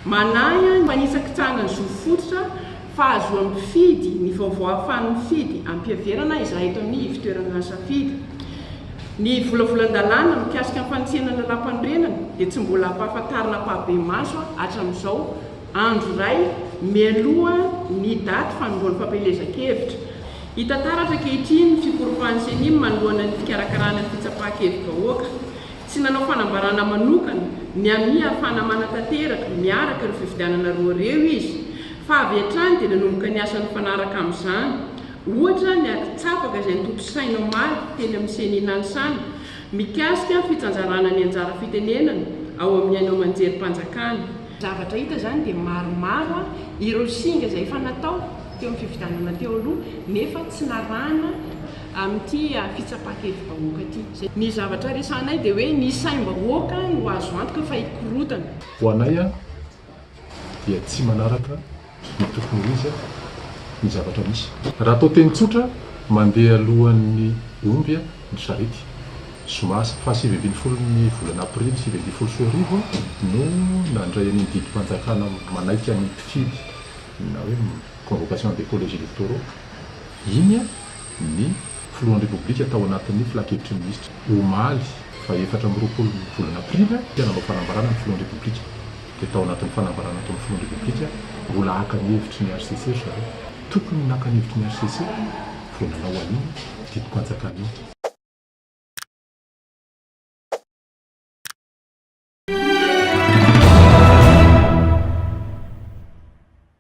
Manahy ahy mba hisakitsahana ny zo fototra fahazoan'ny mpifidy ny vaovao ahafahan'ny mpifidy ampiheverana izahay eto amin'ny ivon-toerana nisafidy. Ny volavolan-dalàna mikasika ny fanitsiana ny lalàmpanorenana dia tsy mbola ampahafantarina ampahibemaso hatramin'izao. andro iray mialoha ny daty fanombohan'ny fampielezan-kevitra. Hita taratra ankehitriny ny fikoropan'ny Cenim manoloana ny fikarakarana ny fitsapan-kevi-bahoaka. Tsy nanao fanambarana manokana ny amin'ny hahafahana manatanteraka miaraka ireo fifidianana roa ireo izy, fa avy hatrany dia nanomboka ny asa nifanaraka amin'izany. Ohatra ny ady tsapaka izay notontosaina omaly teny amin'ny Ceni Nanisana mikasika ny fitsanjarana ny anjara fitenenana ao amin'ny haino aman-jerim-panjakana. Zavatra hita izany dia maromaro ireo singa izay efa natao teo amin'ny fifidianana teo aloha nefa tsy narahana amin'ity fitsapan-kevi-bahoaka ity. Ny zavatra resahanay dia hoe ny saim-bahoaka no azo antoka fa hikorotana. Ho anay dia tsy manaraka ny tokony ho izy ny zavatra misy. Raha atao teny tsotra, mandeha alohan'ny omby ny sarety. Zoma fahasivy ambin'ny folo ny volana aprily sivy ambin'ny folo sy roa arivo no nandray an'iny didim-panjakana manaiky ny mpifidy na hoe convocation des collèges électoraux iny ny Filohan'ny Repoblika tao anatin'ny Filankevitry ny Minisitra, omaly faha efatra amby roapolo ny volana aprily, dia nanao fanambarana ny Filohan'ny Repoblika. Dia tao anatin'ny fanambarana ataon'ny Filohan'ny Repoblika, mbola haka ny hevitry ny hcc ry zareo. Tokony naka ny hevitry ny hcc vao nanao an'iny didim-panjakana iny.